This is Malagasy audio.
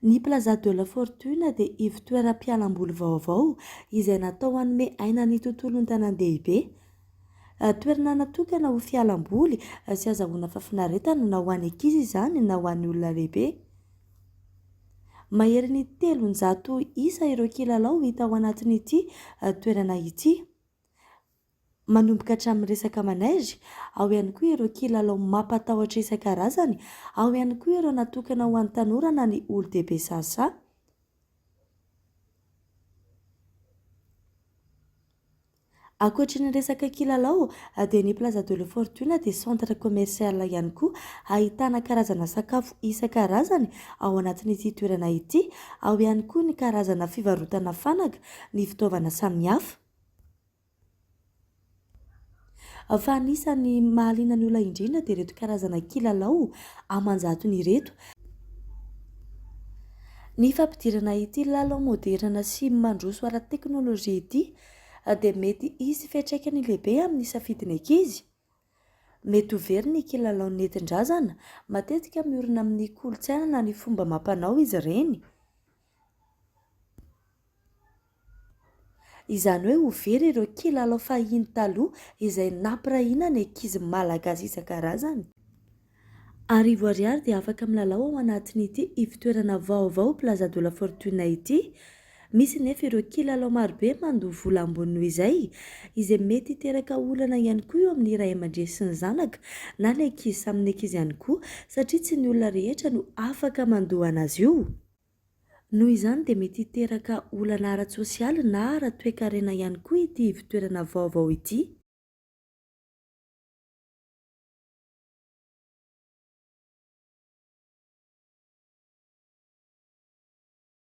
Ny Plaza de la Fortune dia ivotoeram-pialamboly vaovao izay natao hanome aina ny tontolon'ny tanàn-dehibe. Toerana natokana ho fialamboly sy azahoana fahafinaretana na ho an'ny ankizy izany na ho an'ny olona lehibe. Maherin'ny telonjato isa ireo kilalao hita ao anatin'ity toerana ity. manomboka hatramin'ny resaka manaizy, ao ihany koa ireo kilalao mampatahotra isan-karazany, ao ihany koa ireo natokana ho an'ny tanora na ny olon-dehibe sasa. Ankoatry ny resaka kilalao dia ny Plaza de la Fortune dia centre commercial ihany koa ahitana karazana sakafo isan-karazany ao anatin'ity toerana ity, ao ihany koa ny karazana fivarotana fanaka, ny fitaovana samihafa. Fa anisan'ny mahaliana ny olona indrindra dia ireto karazana kilalao aman-jatony ireto. Ny fampidirana ity lalao maoderina sy mandroso ara-teknolojia ity dia mety hisy fiantraikany lehibe amin'ny safidin'ny ankizy. Mety ho very ny kilalao nentin-drazana, matetika miorina amin'ny kolontsaina na ny fomba amam-panao izy ireny. Izany hoe ho very ireo kilalao fahiny taloha izay nampirahina ny ankizy malagasy isan-karazany. Arivo ariary dia afaka milalao ao anatin'ity ivon-toerana vaovao Plaza de la Fortuna ity. Misy nefa ireo kilalao marobe mandoa vola ambony noho izay, izay mety hiteraka olana ihany koa eo amin'ny ray aman-dreny sy ny zanaka na ny ankizy samy ny ankizy ihany koa satria tsy ny olona rehetra no afaka mandoa an'azy io. Noho izany dia mety hiteraka olana ara-tsosialy na ara-toekarena ihany koa ity ivotoerana vaovao ity.